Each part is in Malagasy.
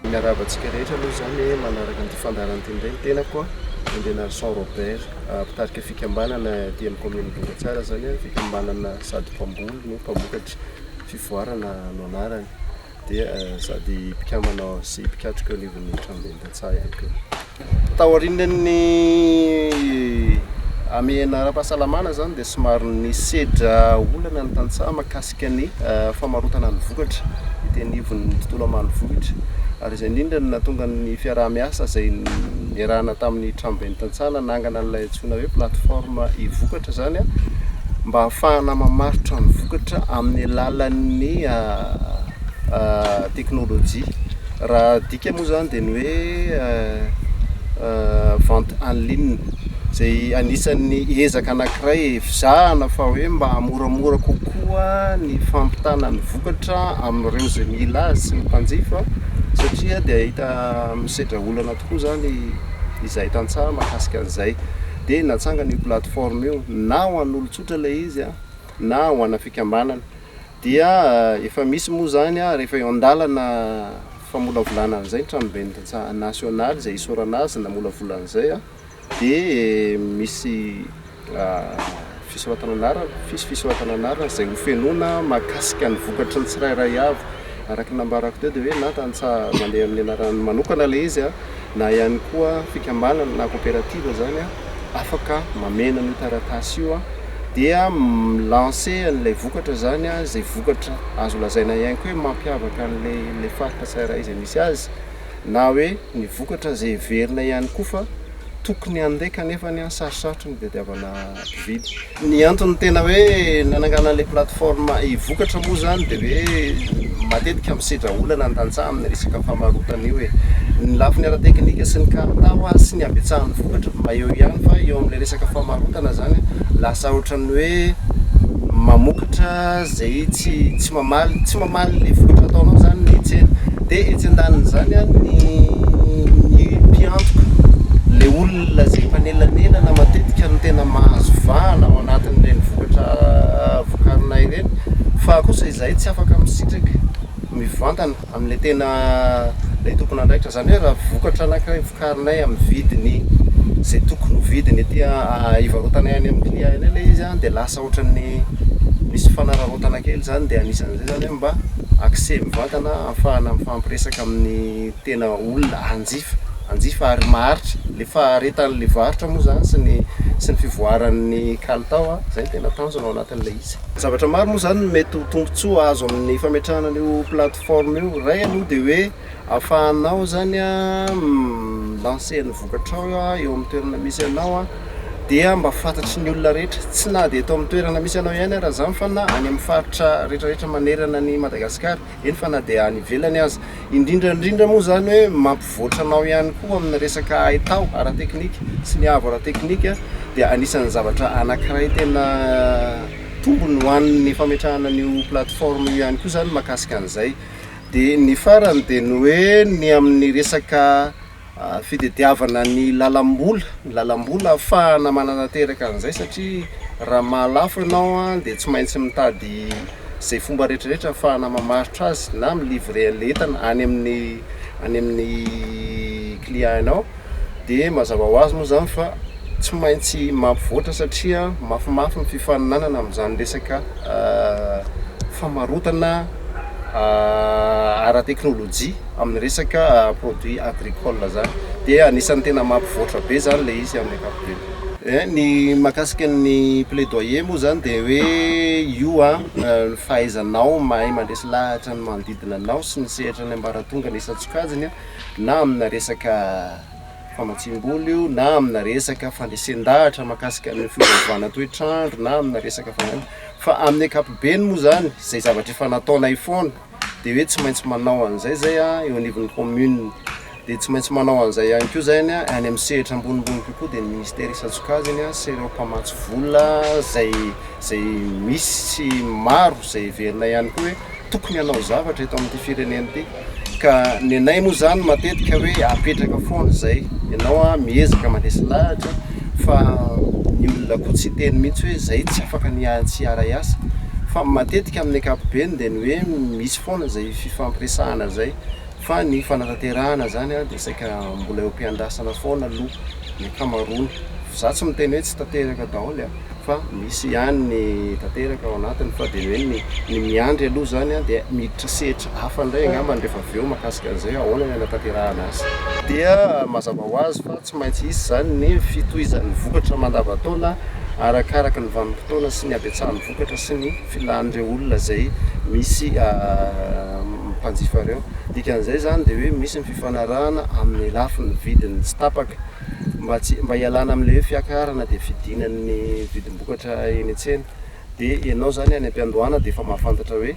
Miarahaba antsika rehetra aloha izany manaraka ny fandaharana teny iray ny tenako Andrianarison Robert mpitarika fikambanana aty amin'ny kaominina Bongatsara izany fikambanana sady mpamboly no mpamokatra fivoarana no anarany dia sady mpikambana sy mpikatroka eo anivon'ny tranobentan-tsaha ihany koa. Taorian'ny hamehana ara-pahasalamana izany dia somary nisedra olana ny tantsaha mahakasika ny eh, famarotana ny vokatra ety anivon'ny tontolo ambanivohitra ary izay indrindra no nahatonga ny fiaraha-miasa izay niarahana tamin'ny tranoben'ny tantsaha nanangana an'ilay Antsoina hoe plateforme e-vokatra izany mba hahafahana mamaritra ny vokatra amin'ny alalan'ny teknolojia. Raha adika moa izany dia ny hoe vente en ligne izay anisan'ny ezaka anankiray ezahana fa hoe mba hamoramora kokoa ny fampitana ny vokatra amin'ireo izay mila azy sy ny mpanjifa satria dia hita misedra olana tokoa. koa izany izay tantsaha mahakasika an'izay. Dia natsangana io plateforme io, na ho an'olon-tsotra ilay izy na ho ana fikambanana. Dia efa misy moa izany rehefa eo an-dalana famolavolana an'izay ny tranoben'ny tantsaha nasionaly izay isaorana azy namolavola an'izay. dia misy fisoratana anarana, fisy fisoratana anarana izay ho fenoina mahakasika ny vokatry ny tsirairay avy. Araka ny nambarako teo dia hoe na tantsaha mandeha amin'ny anarany manokana ilay izy na ihany koa fikambanana na coopérative izany afaka mameno an'io taratasy io dia mi-lancer an'ilay vokatra izany, izay vokatra azo lazaina ihany koa hoe mampiavaka an'ilay faritra tsirairay izay misy azy. na hoe ny vokatra izay heverina ihany koa fa tokony handeha kanefa anie sarotsarotry ny hitadiavana mpividy. Ny antony tena hoe nananganana ilay plateforme e-vokatra moa izany dia hoe matetika misedra olana ny tantsaha amin'ny resaka famarotana io e. Ny lafiny ara-teknika sy ny kalitao ary sy ny habetsahan'ny vokatra mba eo ihany fa eo amin'ilay resaka famarotana izany lasa ohatran'ny hoe mamoaka Ohatra izay tsy tsy mamaly tsy mamaly ny vokatra ataonao izany ny tsena, dia etsy an-danin'izany a ny ny mpiantoka, ilay olona izay mpanelanelana matetika no tena mahazo vahana ao anatin'ireny vokatra vokarina ireny fa kosa izahay tsy afaka misitraka mivantana. Amin'ilay tena ilay tompon'andraikitra, izany hoe raha vokatra anankiray vokarinay amin'ny vidiny izay tokony ho vidiny ety a, hivarotanay any amin'ny client eny ilay izy an, dia lasa ohatran'ny misy fanararaotana kely izany, dia anisan'izay izany hoe mba accès mivantana ahafahana mifampiresaka amin'ny tena olona hanjifa, hanjifa ary maharitra, ilay faharetan'ilay varotra moa izany sy ny sy ny fivoaran'ny kalitao an, izay no tena tanjona ao anatin'ilay izy. Zavatra maro moa izany no mety ho tombontsoa azo amin'ny fametrahana an'io plateforme io. Iray aloha dia hoe ahafahanao izany mi-lancer ny vokatrao eo amin'ny toerana misy anao dia mba fantatry ny olona rehetra, tsy na dia eto amin'ny toerana misy anao ihany aza izany fa na any amin'ny faritra rehetrarehetra manerana an'i Madagasikara. eny fa na dia any ivelany aza, indrindra indrindra moa izany hoe mampivoatra anao ihany koa amin'ny resaka haitao ara-teknika sy ny avo ara-teknika dia anisan'ny zavatra anankiray tena tombony ho an'ny fametrahana an'io plateforme io ihany koa izany makasika an'izay. Dia ny farany dia ny hoe ny amin'ny resaka fitediavana ny lalam-bola, ny lalam-bola ahafahana manatanteraka an'izay satria raha maha lafo ianao dia tsy maintsy mitady izay fomba rehetrarehetra ahafahana mamaritra azy na mi livrer an'ilay entana any amin'ny any amin'ny client-nao dia mazava ho azy moa izany fa tsy maintsy mampivoatra satria mafimafy ny fifaninanana amin'izany resaka famarotana ara-teknolojia amin'ny resaka produit agricole zany dia anisan'ny tena mampivoatra be zany ilay izy amin'ny ankapobeny. Eh, ny makasika ny plaidoyer moa zany dia hoe io a eh, ny fahaizanao mahay mandresy lahatra ny manodidina anao sy ny sehatra ny ambaratonga ny isan-tsokajiny na amina resaka famatsiam-bola io na amina resaka fandresen-dahatra makasika ny fiovaovana toetr'andro na amina resaka fa amin'ny ankapobeny moa zany izay zavatra efa nataonay foana dia hoe tsy maintsy manao an'izay zay a eo anivon'ny commune dia tsy maintsy manao an'izay ihany koa zay any any amin'ny sehatra ambonimbony kokoa dia ny ministère isan-tsokajiny sy ireo mpamatsy vola zay zay misy sy maro zay heverina ihany koa hoe tokony hanao zavatra eto amin'ity firenena ity ka ny anay moa zany matetika hoe apetraka foana izay ianao a miezaka mandresy lahatra fa ny olona koa tsy hiteny mihintsy hoe izay tsy afaka ny tsy hiaray asa fa matetika amin'ny ankapobeny dia ny hoe misy foana izay fifampiresahana izay fa ny fanatanterahana izany dia saika mbola eo am-piandrasana foana aloha ny ankamaroany, za tsy miteny hoe tsy tanteraka daholo an! fa misy ihany ny tanteraka ao anatiny fa dia ny hoe ny ny miandry aloha izany an dia miditra sehatra hafa indray angambany rehefa avy eo mahakasika an'izay hoe ahoana ny hanatanterahana asa dia mazava ho azy fa Tsy maintsy hisy izany ny fitohizan'ny vokatra mandavantaona arakaraka ny vanim-potoana sy ny habetsahan'ny vokatra sy ny filan'ireo olona izay misy mpanjifa ireo. Dikan'izay izany dia hoe misy ny fifanarahana amin'ny lafiny vidiny tsy tapaka mba tsy mba hialana amin'ilay hoe fiakarana dia fidiana ny vidim-bokatra eny an-tsena. Dia ianao izany any am-piandohana dia efa mahafantatra hoe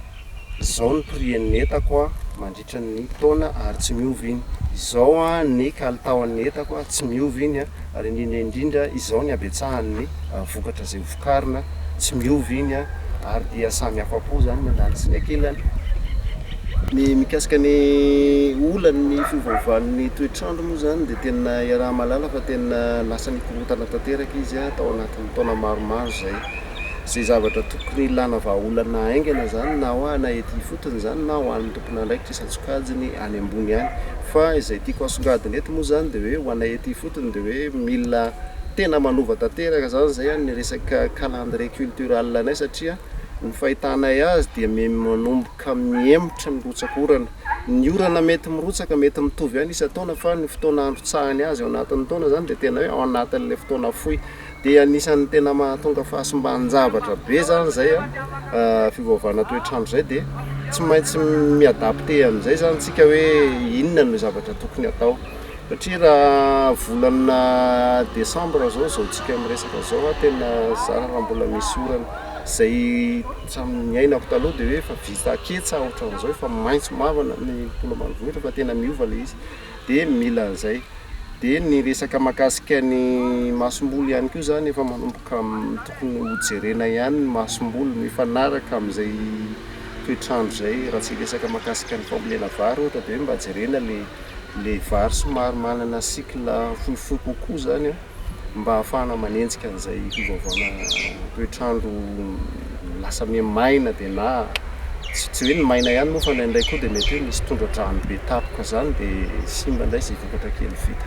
izao ny prix-n'ny entako mandritr. mandritry ny taona ary tsy miova iny. Izao ny kalitaon'ny entako, tsy miova iny an, ary indrindra indrindra izao ny habetsahan'ny vokatra izay ho vokarina, tsy miova iny an, ary dia samy afa-po izany ny andaniny sy ny ankilany. Ny mikasika ny olana ny fiovaovan'ny toetr'andro moa izany dia tena iaraha-mahalala fa tena lasa nikorontana tanteraka izy an, tao anatin'ny taona maromaro izay. izay zavatra tokony hilana vahaolana haingana izany na ho ana ety ifotony izany na ho an'ny tompon'andraikitra isan-tsokajiny any ambony any. Fa izay tiako hasongadina eto moa izany dia hoe ho ana ety ifotony dia hoe mila tena manova tanteraka izany izay ny resaka calendrier cultural anay satria ny fahitanay azy dia me- manomboka mihemotra ny rotsak'orana. Ny orana mety mirotsaka mety mitovy ihany isan-taona fa ny fotoana androtsahany azy ao anatin'ny taona izany dia tena hoe ao anatin'ilay fotoana fohy. Dia anisan'ny tena mahatonga fahasimban-javatra be izany izay fiovaovana toetr'andro izay dia tsy maintsy mi-adapter an'izay izany isika hoe inona no zavatra tokony hatao. Satria raha volana desambra izao izao miresaka izao aho tena zara raha mbola misy orana. Izay hatramin'ny niainako taloha dia hoe efa vita ketsa ohatran'izao, efa maitso mavana ny tontolo ambanivohitra fa tena miova ilay izy. dia mila an'izay. Dia ny resaka mahakasika ny masomboly ihany koa izany efa manomboka tokony ho jerena ihany ny masomboly mifanaraka amin'izay toetr'andro izay. Raha tsy hiresaka mahakasika ny fambolena vary ohatra dia mba jerena ilay ilay vary somary manana cycle fohifohy kokoa izany an. mba hahafahana manenjika an'izay fiovaovana toetr'andro lasa miha maina dia na tsy hoe ny maina ihany moa fa indraindray koa dia mety hoe misy tondra-drano be tampoka izany dia simba indray izay vokatra kely vita.